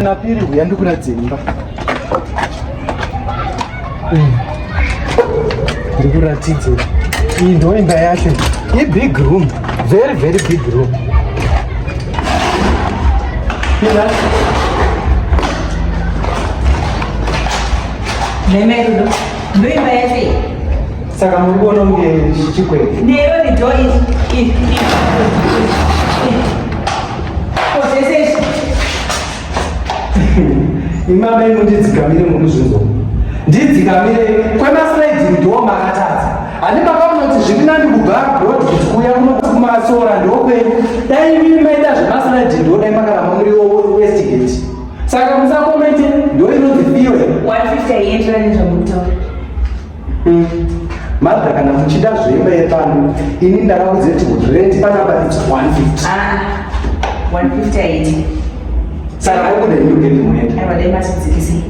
Napiri huya ndikuratidze imba. Mm. Ndikuratidze. Iyi ndo imba yacho. I big room. Very very big room. Pinda. Meme ndo imba yacho. Saka muri kuona kunge zvichikwete. Nero ni door is is is. Possesses. Imama ino ndidzikamire mukuzvinzwa. Ndidzikamire kwemasliding door makatadza. Ani makamunoti zviri nani kubva road kuuya kuno kumasora ndokwenyu. Dai imimi maita zvemasliding door dai makaramba muri west gate. Saka musakomente ndoinonzi fiwe. 150 yenyu ndinozomutaura. Martha kana muchida zvemba yepano ini ndakaudze kuti rent panapa it's 150. Ah, 150 aiti. Saka kwakuda new gate muenda. Aiwa dai masidzikisi.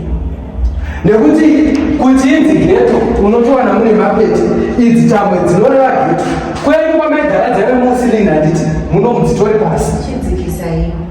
Nekuti kuti inzi ghetto unotowana mune mapeti idzi tamwe dzinoreva ghetto. Kwedu kwamaigara dzave musili handiti muno mudzitori pasi. Chidzikisai.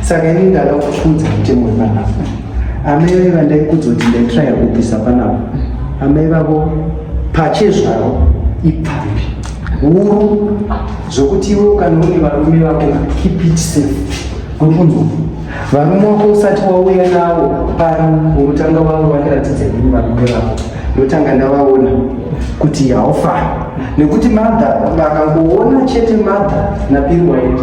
saka ini ndada kukuudza mutemo wepanapa amai vave vandaikudza kuti ndaitraya kubvisa panapa amai vavo pachezvaro ipfambi huru zvokuti iwe ukanoone varume vako keep it safe kukunzwa varume wako usati wauya nawo pano unotanga vavo vandiratidza ini varume vako ndotanga ndavaona kuti haufa nekuti madha vakangoona chete madha napiriwaiti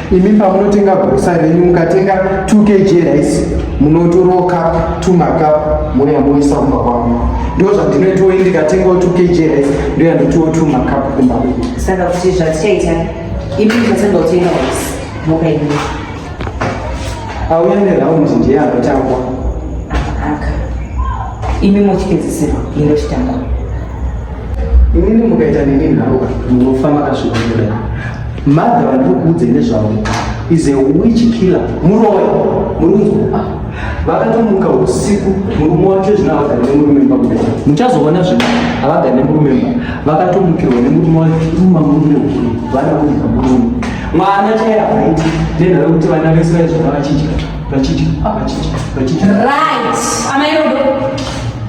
imi pamunotenga grosa renyu mukatenga 2 kg rice munotorowo cup two macup mouya moisa kumba kwangu ndo zvandinoitowo ini ndikatengawo 2 kg rice ndoya ndotiwo two macup kumba kwedu saka kuti zvatichaita imi muchatanga kutenga rice moka imi auya neraundi ndiye anotangwa aka imi mochipedzisirwa ino chitanga inini mukaita nini nhauka munofa makasvikoa Mother vandikuudze nezvavo is a witch killer muroyi murunzwa vakatomuka usiku murume wacho zvino havagane nemurume mba kuda muchazoona zvino havagane murume mba vakatomukirwa nemurume wacho uma murume ukuru vana kuita murume mwana chaiye havaiti nenhara kuti vana vese vaizvana vachidya vachidya vachidya vachidya right amairodo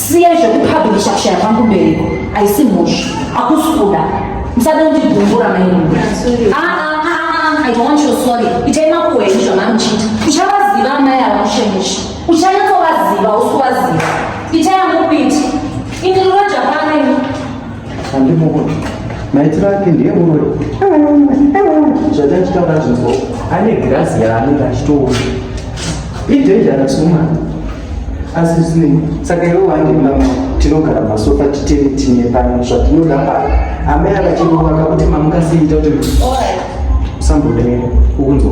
siya zvekupublisha kushaya pangu mbereko aisi mhosva akusi kuda musada kundibvumbura maimuna ah, ah, ah, i don't want your sorry itai makuhwa enyu zvamamuchiita uchavaziva amai ava mushemushe uchanyatsovaziva usi kuvaziva itai angu kuita ini rinoja pane maitiro ake ndiye muroyi zvatachitaura zvinzwa ane girasi yaanenge achitoona idangerous woman asi zvinei saka iwe wandimama tinogara masofa titene tine pano zvatinoda paa amai akachirova kakuti mamukasiita kuti usambodaira ukunzwa